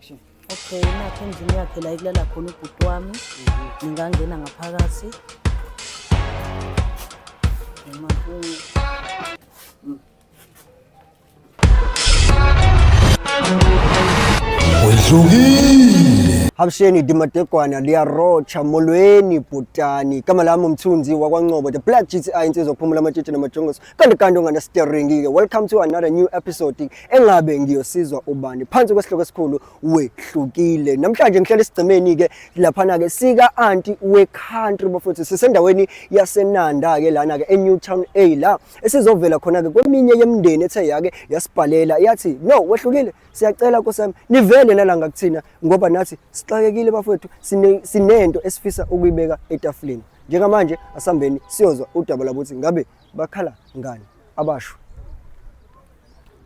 Okay, nakhe endlini yakhe la ikulala khona ubhuti wami. Ngingangena ngaphakathi. Noma Wehlukile. Habsheni dimadegwana liyarotsha molweni bhutani. Igama lami umthunzi wakwaNcobo. The Black GTI insizwa kuphumula amatshitshi namajongoso. kanti kanti unganasiteringi-ke welcome to another new episode engabe ngiyosizwa ubani phansi kwesihloko esikhulu wehlukile namhlanje ngihlele esigcemeni-ke laphana-ke sika-anti we-country bafowethu sisendaweni yasenanda-ke lana-ke e-newtown a la esizovela khona-ke kweminye yemndeni ethe yake yasibhalela yathi no wehlukile siyacela kosami nivele nalanga kuthina ngoba nathi sixakekile bafowethu sinento esifisa ukuyibeka etafuleni njengamanje asihambeni siyozwa udaba lakuthi ngabe bakhala ngani abasho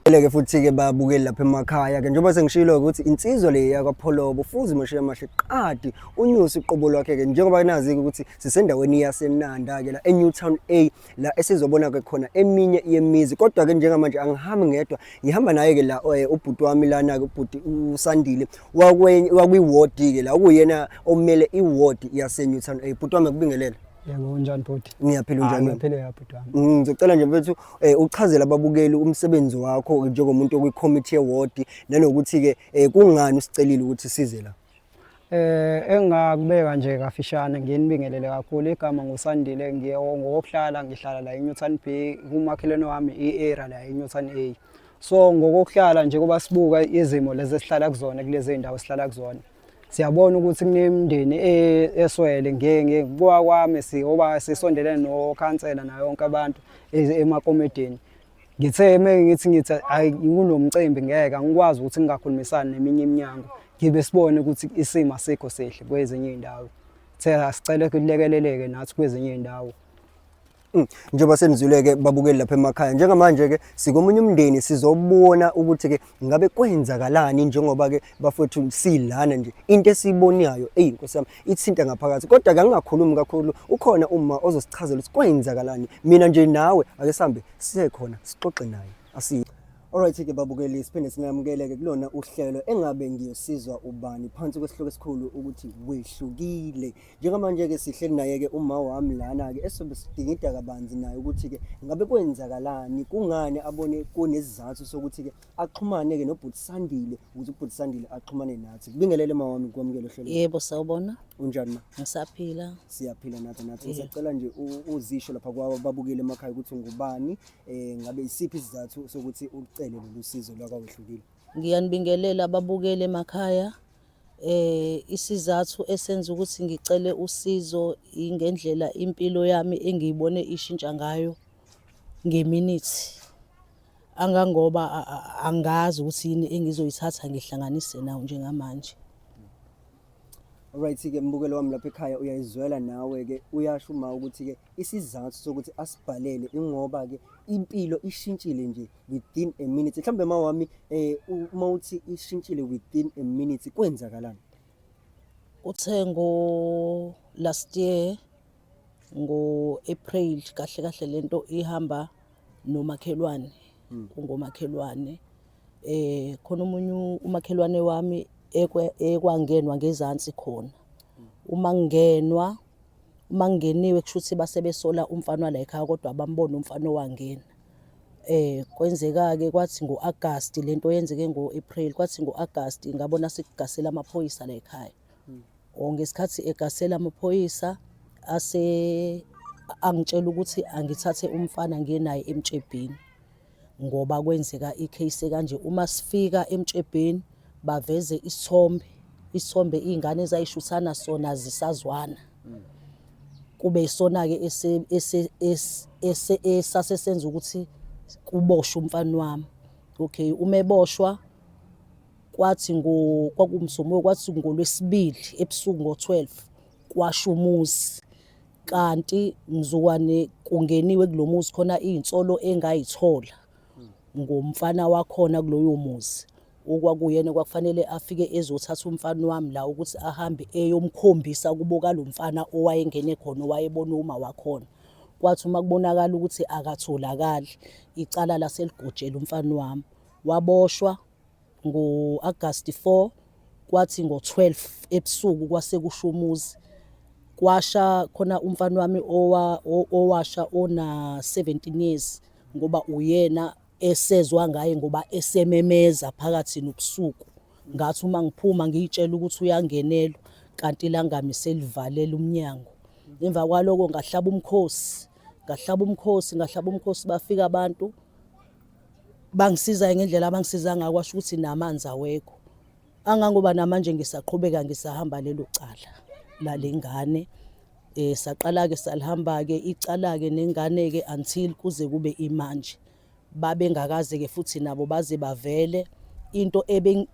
eleke futhi-ke babukeli lapha emakhaya-ke njengoba sengishilo-ke ukuthi insizwa le yakwapholobo fuze umashiye amahle qadi unyuse uqobo lwakhe-ke njengoba nazi-ke ukuthi sisendaweni yasenanda-ke la enewtown a la esizobona-ke khona eminye yemizi kodwa-ke njengamanje angihambi ngedwa ngihamba naye-ke la um ubhuti wami lana-ke ubhuti usandile wakwiwodi-ke la okuyena omele iwodi yasenewtown a bhuti wami akubingelele Yebo unjani bhuti? Ngiyaphila unjani? Ah, ngiyaphila ya bhuti wami. Mm, ngicela nje mfethu eh uchazele ababukeli umsebenzi wakho njengomuntu okwi committee award nanokuthi ke eh, kungani usicelile ukuthi size la. Eh engakubeka nje kafishane nginibingelele kakhulu igama ngusandile ngiye ngokuhlala ngihlala la eNewton B kumakhelwane wami iEra la eNewton A. So ngokuhlala nje kuba sibuka izimo lezi esihlala kuzona kulezi ndawo esihlala kuzona. siyabona ukuthi kunemndeni e-, eswele ngekuwa kwami siyoba sisondelene nokhansela nayo yonke abantu e-, emakomedini ngithe uma ngithi ngithi hayi kunomcimbi ngeke angikwazi ukuthi ngingakhulumisani neminye iminyango ngibe sibone ukuthi isimo asikho sihle kwezinye iy'ndawo thela sicele kulekeleleke nathi kwezinye iy'ndawo Mm. njengoba senizwile-ke babukeli lapha emakhaya njengamanje-ke sikomunye umndeni sizobona ukuthi-ke ngabe kwenzakalani njengoba-ke bafowethu silana nje into esiyibonayo eyi nkosi yami ithinta ngaphakathi kodwa-ke angingakhulumi kakhulu ukhona uma ozosichazela ukuthi kwenzakalani mina nje nawe ake sihambe siye khona sixoxe naye asiye Alright-ke babukeli siphinde singamukele-ke kulona uhlelo engabe ngiyosizwa ubani phansi kwesihloko esikhulu ukuthi wehlukile Njengamanje-ke sihleli naye-ke uma wami lana-ke esobe sidingida kabanzi naye ukuthi-ke ngabe kwenzakalani, kungani abone kunesizathu sokuthi-ke axhumane-ke nobhuti Sandile ukuze ubhuti Sandile axhumane nathi. Kubingelele ma wami kwamukele uhlelo. Yebo sawubona, Unjani ma? ngisaphila. Siyaphila nathi nathi. Yeah. Ngisacela nje u- uzisho lapha kwaba babukele emakhaya ukuthi ungubani, eh ngabe isiphi isizathu sokuthi ucele lolu sizo lwakwawehlukile. Ngiyanibingelela ababukeli emakhaya. Isizathu esenza ukuthi ngicele usizo ingendlela impilo yami engiyibone ishintsha ngayo ngeminithi angangoba angazi ukuthi yini engizoyithatha ngihlanganise nawo njengamanje. Right-ke mbukelo wami lapha ekhaya uyayizwela nawe-ke uyasho uma ukuthi-ke isizathu sokuthi asibhalele ingoba-ke impilo ishintshile nje within a minute mhlawumbe mawami eh uma uthi ishintshile within a minute kwenzakalani uthe ngo last year ngo April kahle kahle lento ihamba nomakhelwane hmm. ungomakhelwane eh khona umunye umakhelwane wami ekwangenwa ngezansi khona hmm. uma ngenwa uma ngeniwe kushuthi base besola umfana la ekhaya kodwa bambona umfana owangena Eh kwenzeka-ke kwathi ngo-Agasti le nto yenzeke ngo-April, kwathi ngo-Agasti ngabona sekugasela amaphoyisa la ekhaya. Hmm. Or oh, ngesikhathi egasela amaphoyisa ase angitshela ukuthi angithathe umfana ngiye naye emtshebheni ngoba kwenzeka i-case kanje. Uma sifika emtshebheni baveze isithombe, isithombe iy'ngane ezayishuthana sona zisazwana. kube isona-ke esase senza ukuthi kuboshwe umfana wami okay uma eboshwa kwathi kwakumsomuko kwathi ngolwesibili ebusuku ngo-12 kwasho umuzi kanti ngizokwane kungeniwe kulo muzi khona iy'nsolo engayithola ngomfana wakhona kuloyo muzi Okwakuyena kwakufanele afike ezothatha umfana wami la ukuthi ahambe eyomkhombisa kubo kalo mfana owayengene khona owayebona uma wakhona. Kwathi uma kubonakala ukuthi akatholakali, icala laseligojela umfana wami. Waboshwa ngo-Agasti 4 kwathi ngo-12 ebusuku kwase kusho umuzi kwasha khona umfana wami owasha ona-17 years ngoba uyena esezwa ngaye ngoba esememeza phakathi nobusuku ngathi uma ngiphuma ngiyitshela ukuthi uyangenelwa kanti ilangami selivalela umnyango emva kwaloko ngahlaba umkhosi ngahlaba umkhosi ngahlaba umkhosi bafika abantu bangisizayo ngendlela abangisiza ngayo kwasho ukuthi namanzi awekho Angangoba namanje ngisaqhubeka ngisahamba lelo cala lalengane eh saqala ke salihamba ke icala ke nengane ke until kuze kube imanje babengakaze ke futhi nabo baze bavele into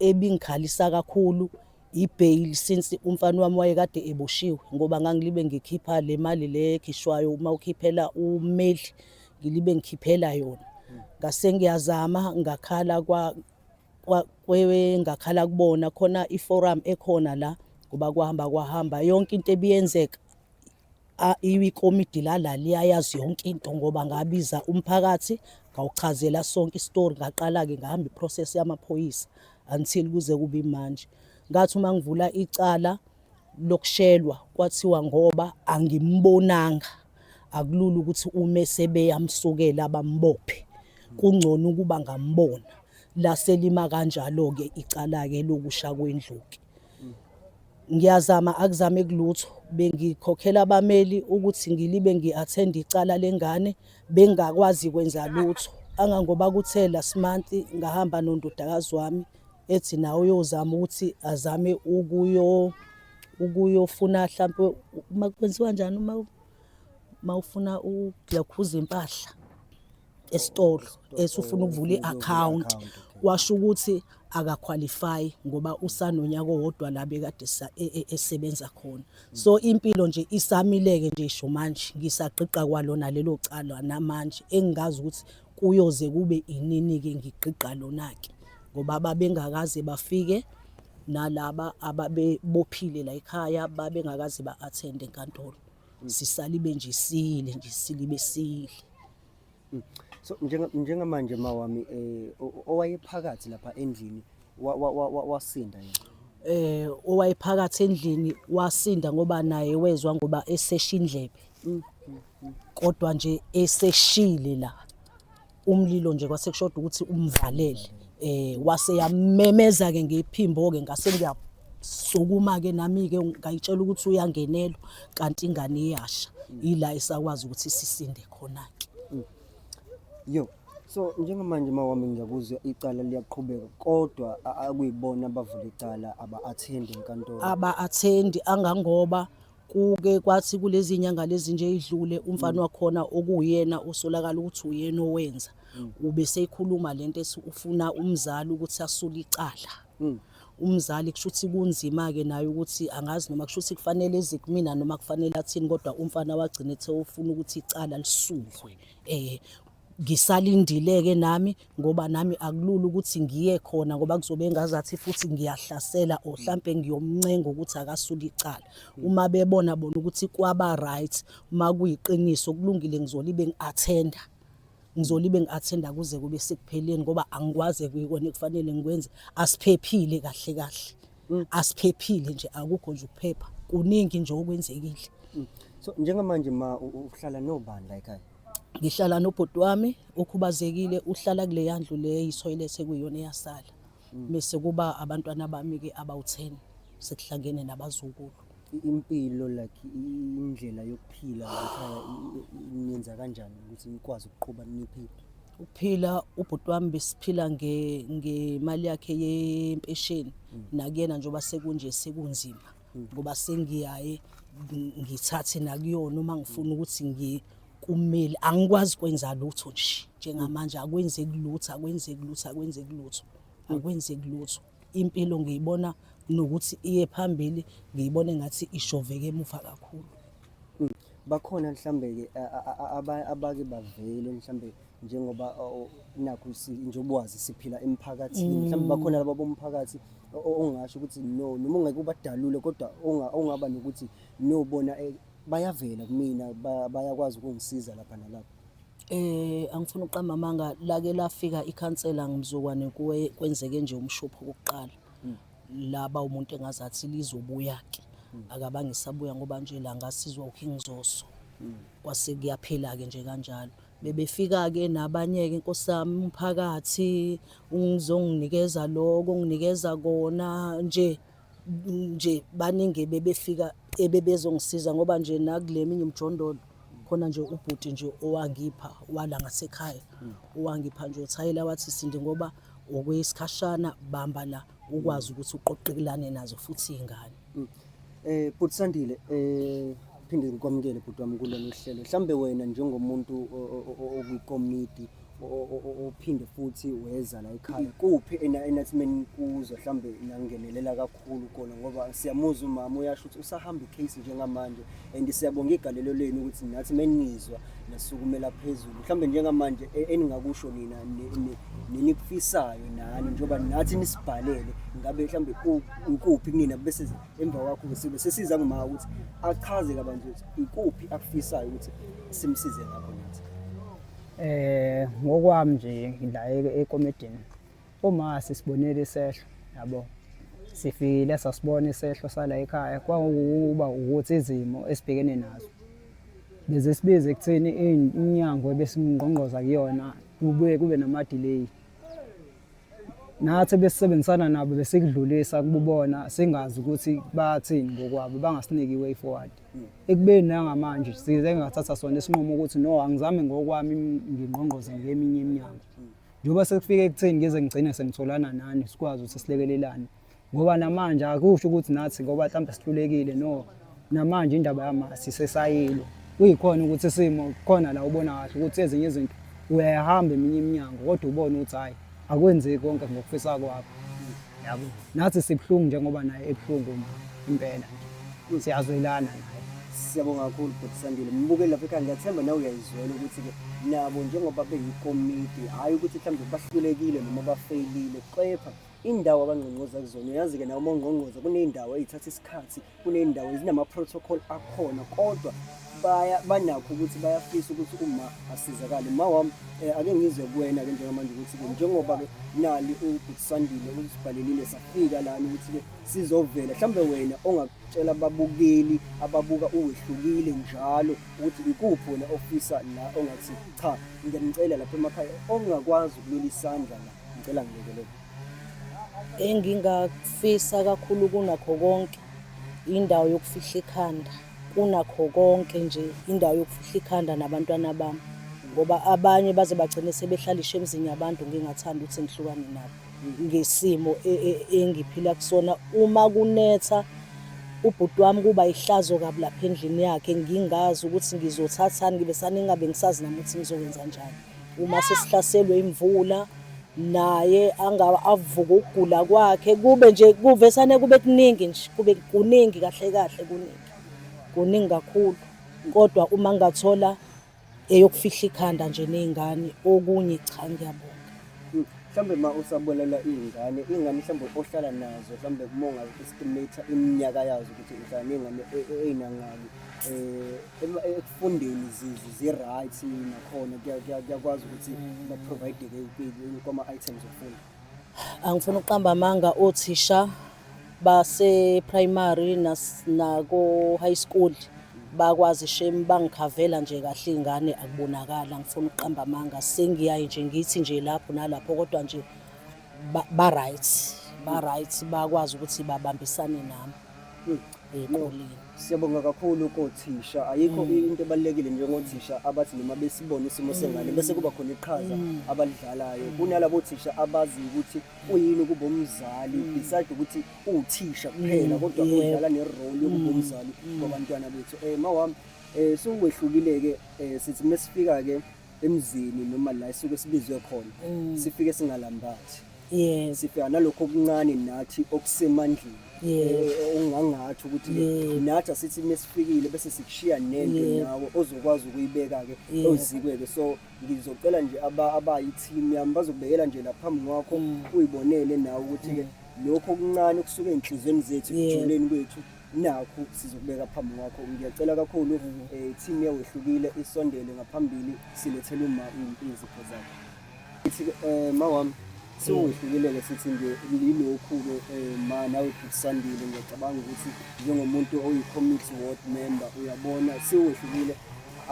ebingikhalisa kakhulu ibail since umfana wami wayekade eboshiwe ngoba ngangilibe ngikhipha le mali le ekhishwayo uma ukhiphela umeli ngilibe ngikhiphela yona ngase ngiyazama ngakhala kwa kwengakhala kubona khona iforum ekhona la ngoba kwahamba kwahamba yonke into ebiyenzeka ikomidi lala liyayazi yonke into ngoba ngabiza umphakathi ngawuchazela sonke isitori ngaqala-ke ngahamba iprocess yamaphoyisa until kuze kube imanje ngathi uma ngivula icala lokushelwa kwathiwa ngoba angimbonanga akulula ukuthi ume sebeyamsukela bambophe kungcono ukuba ngambona laselima kanjalo-ke icala-ke lokusha kwendluki ngiyazama akuzame kulutho bengikhokhela abameli ukuthi ngilibe ngi-athenda icala lengane bengakwazi kwenza lutho angangoba kuthe last month ngahamba nondodakazi wami ethi nawe uyozama ukuthi azame ukuyo ukuyofuna hlampe uma kwenziwa njani uma uma ufuna ukulakhuza impahla esitolo esufuna ukuvula i-account washo ukuthi akaqualify ngoba usanonyaka owodwa la bekade sa- e- e- esebenza khona so impilo nje isamileke nje isho manje ngisagqigqa kwalona lelo cala namanje engingazi ukuthi Kuyoze kube inini-ke ngigqigqa lona-ke ngoba babengakaze bafike nalaba ababebophile la ekhaya babengakaze ba-athende enkantolo mm. sisalibe nje sile nje silibe sile mm. so njengamanje mawami um owayephakathi lapha endlini wasinda yena eh owayephakathi endlini wasinda ngoba naye wezwa ngoba esesha indlebe mm, mm, mm. kodwa nje eseshile la umlilo nje kwasekushoda ukuthi umvalele eh wase yamemeza ke ngephimbo ke ngase ngiyasukuma ke nami ke ngayitshela ukuthi uyangenelo kanti ingane iyasha ila esakwazi ukuthi sisinde khona ke Yo, so njengamanje uma wami ngiyakuzwa icala liyaqhubeka kodwa a- akuyibona abavula icala aba-athendi enkantolo. aba-athendi angangoba kuke kwathi kulezi nyanga lezi nje idlule umfana wakhona okuwuyena osolakala ukuthi uyena owenza ube seyikhuluma lento ethi ufuna umzali ukuthi asule icala Mm. umzali kusho ukuthi kunzima-ke naye ukuthi angazi noma kusho ukuthi kufanele eze kumina noma kufanele athini kodwa umfana wagcina ethe ufuna ukuthi icala lisuke um ngisalindile-ke nami ngoba nami akulula ukuthi ngiye khona ngoba kuzobe engazathi futhi ngiyahlasela or hlampe ngiyomncenga ukuthi akasuke icala uma bebona bona ukuthi kwaba-right uma kuyiqiniso kulungile ngizolibe ngi-athenda ngizolibe ngi-athenda kuze kube sekupheleni ngoba angikwazi ekuyikona ekufanele ngikwenze asiphephile kahle kahle mm. asiphephile nje akukho nje ukuphepha kuningi nje okwenzekile mm. so njengamanje ma uhlala nobani la ekhaya ngihlala nobhuti wami okhubazekile uhlala kule yandlu le yisoyilet ekuyona eyasala mm. bese kuba abantwana bami-ke abawu-ten sekuhlangene nabazukulu impilo like indlela yokuphila layikhaya niyenza kanjani ukuthi nikwazi ukuqhuba niphi ukuphila ubhuti wami besiphila ngemali yakhe yempesheni mm. nakuyena njengoba sekunje sekunzima mm. ngoba sengiyaye ngithathe nakuyona uma ngifuna mm. ukuthi ngi kumele angikwazi kwenza lutho nje njengamanje akwenzeki lutho akwenzeki lutho akwenzeki lutho akwenzeki lutho Impilo ngiyibona nokuthi iye phambili ngiyibona engathi ishoveke emuva kakhulu. Mm. Bakhona mhlambe-ke abake bavele mhlambe njengoba nakhu njengoba wazi siphila emphakathini mm. mhlawumbe bakhona laba bomphakathi ongasho ukuthi no noma ungeke ubadalule kodwa ongaba nokuthi no bona eh, bayavela kumina bayakwazi ukungisiza lapha nalapha Eh angifuni uqamba amanga lake lafika ikhansela ngimzukwane kuwe kwenzeke nje umshopho kokuqala hmm. laba umuntu engazathi lizobuya ke hmm. akabange sabuya ngoba nje la ngasizwa uKing Zoso hmm. kwase kuyaphela ke nje kanjalo bebefika ke nabanye ke nkosami umphakathi ungizonginikeza lokho nginikeza kona nje nje baningi ebebefika ebebezongisiza ngoba nje nakule minye umjondolo khona nje ubhuti nje owangipha wala ngasekhaya owangipha nje uthayela wathi sindi ngoba okwesikhashana bamba la ukwazi ukuthi uqoqekelane nazo futhi iy'ngane mm. eh bhuti Sandile eh phinde ngikwamukele bhuti wami kulolu hlelo mhlambe wena njengomuntu okwikomidi ophinde futhi weza la ekhaya kuphi enathimeni kuzo mhlawumbe nangenelela kakhulu kona ngoba siyamuza umama uyasho ukuthi usahamba icase njengamanje and siyabonga igalelo lenu ukuthi nathi menizwa nasukumela phezulu mhlawumbe njengamanje e-, eningakusho nina nenikufisayo nani njengoba nathi nisibhalele ngabe mhlawumbe ukuphi kunina bese emva kwakho sibe sesiza ngumaka ukuthi achaze kabanzi ukuthi ikuphi akufisayo ukuthi simsize ngakho nathi Eh ngokwami nje ngila ekomedini uma sisibonile isehlo yabo sifikile sasibona isehlo sala ekhaya kwawukuba ukuthi izimo esibhekene nazo bese sibize ekutheni inyango ebesimngqongqoza kuyona kubuye kube nama delay nathi besisebenzisana nabo besikudlulisa kububona singazi ukuthi bathini ngokwabo bangasiniki way forward hmm. ekubeni nangamanje size ngathatha sona isinqumo ukuthi no angizame ngokwami ngingqongqoze ngeminye iminyango hmm. njengoba sekufike ekutheni ngeze ngigcine sengitholana nani sikwazi ukuthi silekelelane ngoba namanje akusho ukuthi nathi ngoba mhlawumbe sihlulekile no namanje indaba yamasi sesayilo kuyikhona ukuthi isimo khona la ubona kahle ukuthi ezinye izinto uyayahamba eminye iminyango kodwa ubone ukuthi hhayi akwenzeki konke ngokufisa kwakho yabo nathi sibuhlungu njengoba naye ebuhlungu ma impela siyazwelana naye siyabonga kakhulu bhuti sandile mbukeli lapha ekhaya ngiyathemba nawe uyayizwela ukuthi-ke nabo njengoba beyikomiti hhayi ukuthi mhlawumbe bahlulekile noma bafeyilile kepha indawo abangqongqoza kuzona uyazi-ke nawo omongqongqoza kuney'ndawo ey'thatha isikhathi kuney'ndawo ezinama-protocol akhona kodwa baya banakho ukuthi bayafisa ukuthi uma asizakale ma wami um ake ngizwe kuwena-ke njengamanje ukuthi-ke njengoba-ke nali ubhutisandile usibhalelile safika lani ukuthi-ke sizovela mhlawumbe wena ongakutshela ababukeli ababuka uwehlukile njalo ukuthi ikuphi wena ofisa la ongathi cha ngiyanicela lapha emakhaya ongakwazi ukulula isandla la Ngicela ngilekelele. Engingakufisa kakhulu kunakho konke indawo yokufihla ikhanda kunakho konke nje indawo yokufihla ikhanda nabantwana bami ngoba abanye baze bagcine sebehlalishe emzini yabantu ngingathanda ukuthi ngihlukane nabo ngesimo e, e, engiphila kusona uma kunetha ubhuti wami kuba ihlazo kabi lapha endlini yakhe ngingazi ukuthi ngizothathani ngibe saningabe ngisazi nami ukuthi ngizokwenza njani uma sesihlaselwe imvula naye angaba avuka ukugula kwakhe kube nje kuvesane kube kuningi nje kube kuningi kahle kahle kuningi kuningi kakhulu kodwa uma ngathola eyokufihla ikhanda nje nezingane okunye cha ngiyabonga hmm. mhlawumbe ma usabolela iy'ngane iy'ngane mhlawumbe ohlala nazo mhlawumbe uma ungaestimate iminyaka yazo ukuthi uhlala ney'ngane e, e, ey'nangaki um eh, ekufundeni zi-right nakhona kuyakwazi ukuthi mm. baprovide-ke kwama-items okufunda angifuna ukuqamba amanga othisha base-primary nako-high school bakwazi shame bangikhavela nje kahle iy'ngane akubonakala ngifuna ukuqamba amanga sengiyaye nje ngithi nje lapho nalapho kodwa nje ba-right ba-right bakwazi ukuthi babambisane nami hmm. eqoleni. Siyabonga kakhulu kothisha. Ayikho mm. into ebalekile njengothisha abathi noma besibona isimo sengane mm. bese kuba khona iqhaza mm. abalidlalayo. Kunalabo thisha abazi ukuthi uyini kuba umzali beside ukuthi uthisha kuphela kodwa udlala ne role yokuba umzali kwabantwana bethu. Eh mawami eh siwehlukile ke eh, sithi mesifika ke emzini noma la esuke sibizwe khona mm. sifike singalambathi yes sifika nalokho okuncane nathi okusemandleni yes eh, eh, ungangathi ukuthi nathi asithi mesifikile bese sikushiya nento nawe ozokwazi ukuyibeka ke ozikweke so ngizocela nje aba abayi team yami bazokubekela nje lapha phambi kwakho mm. uyibonele nawe ukuthi ke mm. lokho okuncane okusuke enhlizweni zethu ekujuleni kwethu nakhu sizokubeka phambi kwakho ngiyacela kakhulu um eh, team yewehlukile isondele ngaphambili silethele uma izipho zakho ithi um eh, ma wami siwehlukile-ke sithi nje yilokhu-ke um ma nawe bhukusandile ngiyacabanga ukuthi njengomuntu oyi-committee ward member uyabona siwehlukile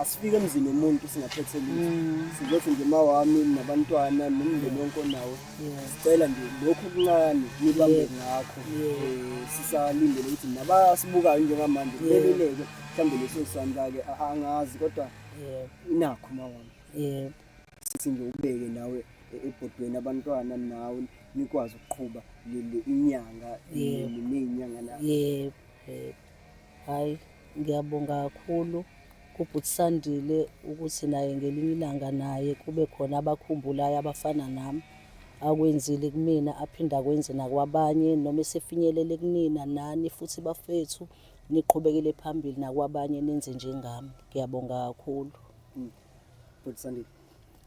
asifike emzini womuntu singaphethe lutho mm. sizothi nje ma wami nabantwana nomndeni wonke onawo sicela nje lokhu kuncane nibambe ngakho um sisalindele ukuthi nabasibukayo njengamanje beluleke mhlawumbe leso sandla-ke angazi kodwa inakho mawami yebo sithi nje ubeke nawe e-, ebhodweni abantwana nawe nikwazi ukuqhuba inyanga neyinyanga nayo yebo Hhayi ngiyabonga kakhulu kubhuti Sandile ukuthi naye ngelinye ilanga naye kube khona abakhumbulayo abafana nami akwenzile kumina aphinde akwenze nakwabanye noma esefinyelele kunina nani futhi bafethu niqhubekele phambili nakwabanye nenze njengami ngiyabonga kakhulu mm. bhuti Sandile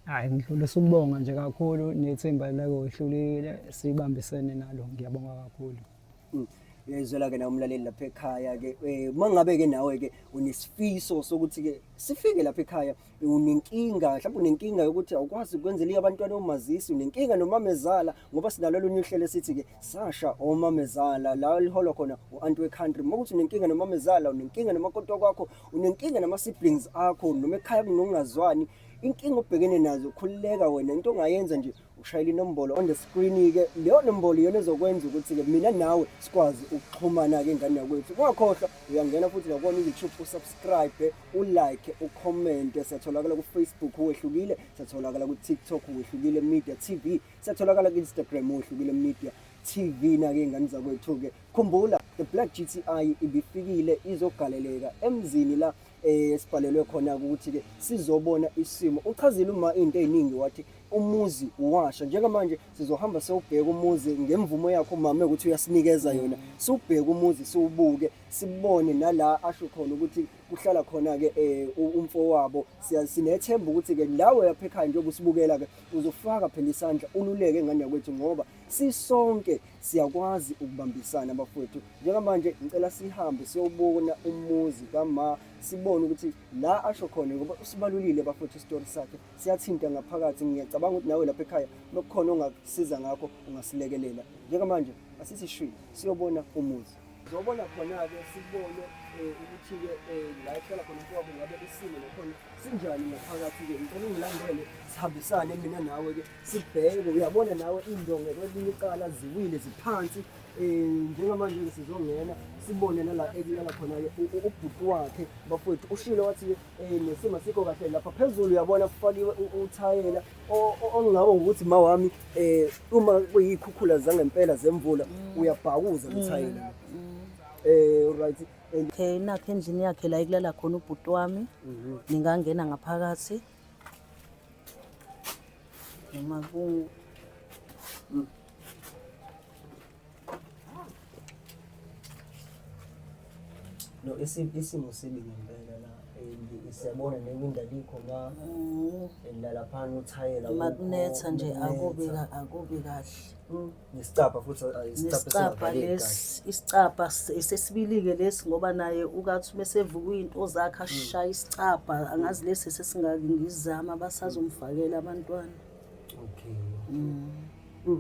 hayi ngidlulisa ukubonga nje kakhulu nethemba lakohlulile sibambisene nalo ngiyabonga kakhulu Mm. uyayizwela-ke nawe umlaleli lapha ekhaya-ke um eh, uma ngabe-ke nawe-ke unesifiso sokuthi-ke sifike lapha ekhaya unenkinga mhlawumbe unenkinga yokuthi awukwazi ukwenzela abantwana omazisi unenkinga nomamezala ngoba sinalo olunye uhlelo esithi-ke sasha omamezala la liholwa khona u-anti we-country uma ukuthi unenkinga nomamezala unenkinga nomakotwa kwakho unenkinga nama-siblings akho noma ekhaya kunokungazwani inkinga obhekene nazo khululeka wena into ongayenza nje ushayela inombolo on the screen-ke leyo nombolo iyona ezokwenza ukuthi-ke mina nawe sikwazi ukuxhumana-ke ingane yakwethu ungakhohlwa uyangena futhi nakona u-youtube usubscribe ulike ukhomente siyatholakala kufacebook wehlukile siyatholakala kutiktok wehlukile media tv siyatholakala ku-instagram wehlukile media tv nake ingane zakwethu-ke khumbula the black gti ibifikile izogaleleka emzini la esibhalelwe khona ukuthi ke sizobona isimo uchazile uma into eziningi wathi umuzi washa njengamanje sizohamba sewubheka umuzi ngemvumo yakho mama ukuthi uyasinikeza yona siwubheke umuzi siwubuke sibone nala asho khona ukuthi kuhlala khona ke eh, umfo wabo sinethemba ukuthi ke lawe yapha ekhaya njengoba usibukela ke uzofaka phela isandla ululeke ngane yakwethu ngoba sisonke siyakwazi ukubambisana bafowethu njengamanje ngicela sihambe siyobona umuzi kama sibone ukuthi la asho khona ngoba usibalulile bafowethu isitori sakhe siyathinta ngaphakathi ngiyacabanga ukuthi nawe lapha ekhaya nokukhona ongakusiza ngakho ungasilekelela njengamanje asisishwini siyobona umuzi zobona khona-ke sibone eh, ukuthi-ke eh, la ehlala khona kwabo ngabe isimo nakhona sinjani ngaphakathi-ke ngicela ungilandele sihambisane mina nawe-ke sibheke uyabona nawe iy'ndonge kwelinye icala ziwile ziphansi um njengamanje-ke sizongena sibone nala ekulala khona-ke ubhuti wakhe bafowethu ushilo wathi-ke um eh, nesimo sikho kahle lapha phezulu uyabona kufakiwe uthayela ongawo ngokuthi ma wami um uma kuyiy'khukhula zangempela zemvula mm. uyabhakuza lothayela um mm. eh, right okay nakho endlini yakhe la ekulala khona ubhuti wami mhm. ningangena ngaphakathi noma ku mm. No, isimo sibi ngempela la and siyabona newinda likho ma mm. elala phana uthayela makunetha nje akubi akubi kahle mm. nesicapha futhi isicapha lesi isicapha sesibilike lesi ngoba naye ukathi uma sevuka into zakhe ashaya mm. isicapha angazi lesi sesingaki ngizama basazomfakela abantwana Okay. Mm.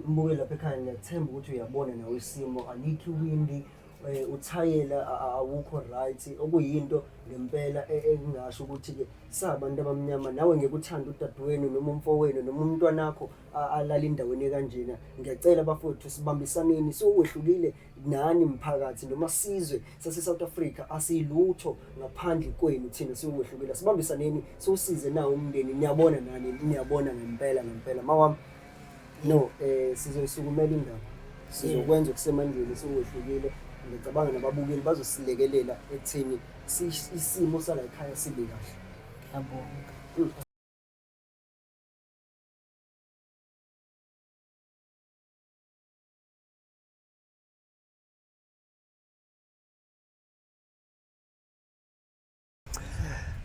Mbuke lapha ekhaya ngiyathemba ukuthi uyabona nawe isimo alikhi windi eh, uthayela a- a- awukho right okuyinto ngempela e- engingasho ukuthi ke sabantu abamnyama nawe ngekuthanda udadewenu noma umfowenu noma umntwanakho a- alala endaweni ekanjena ngiyacela bafowethu sibambisaneni siwehlukile nani mphakathi noma sizwe sase-south africa asiyilutho ngaphandle kwenu thina siwokwehlukile sibambisaneni siwusize nawo umndeni niyabona nani niyabona ngempela ngempela mawami no um eh, sizoyisukumela indaba sizokwenza okusemandleni siwehlukile ngicabanga nababukeli bazosilekelela ekutheni isimo sala ekhaya sibe kahle yabonga mm.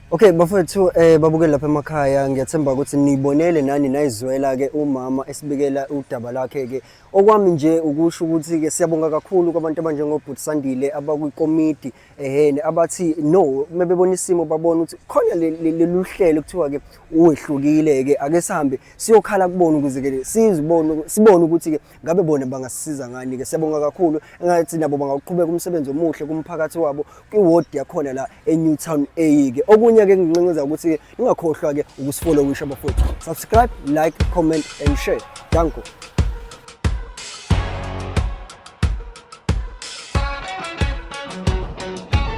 Okay bafethu eh babukeli lapha emakhaya ngiyathemba ukuthi nibonele nani nayizwela ke umama esibikela udaba lakhe ke okwami nje ukusho ukuthi ke siyabonga kakhulu kwabantu abanjengobhuti Sandile abakwikomidi ehene abathi no mebebona isimo babona ukuthi khona lelu hlelo kuthiwa ke uwehlukile ke ake sihambe siyokhala kubona ukuze ke sizibone sibone ukuthi ke ngabe bona bangasisiza ngani ke siyabonga kakhulu engathi nabo bangaqhubeka umsebenzi omuhle kumphakathi wabo kwi-ward yakhona la e-newtown a ke okunye ke nginqinqiza ukuthi ningakhohlwa ke ukusifollowisha bafowethu subscribe like comment and share danko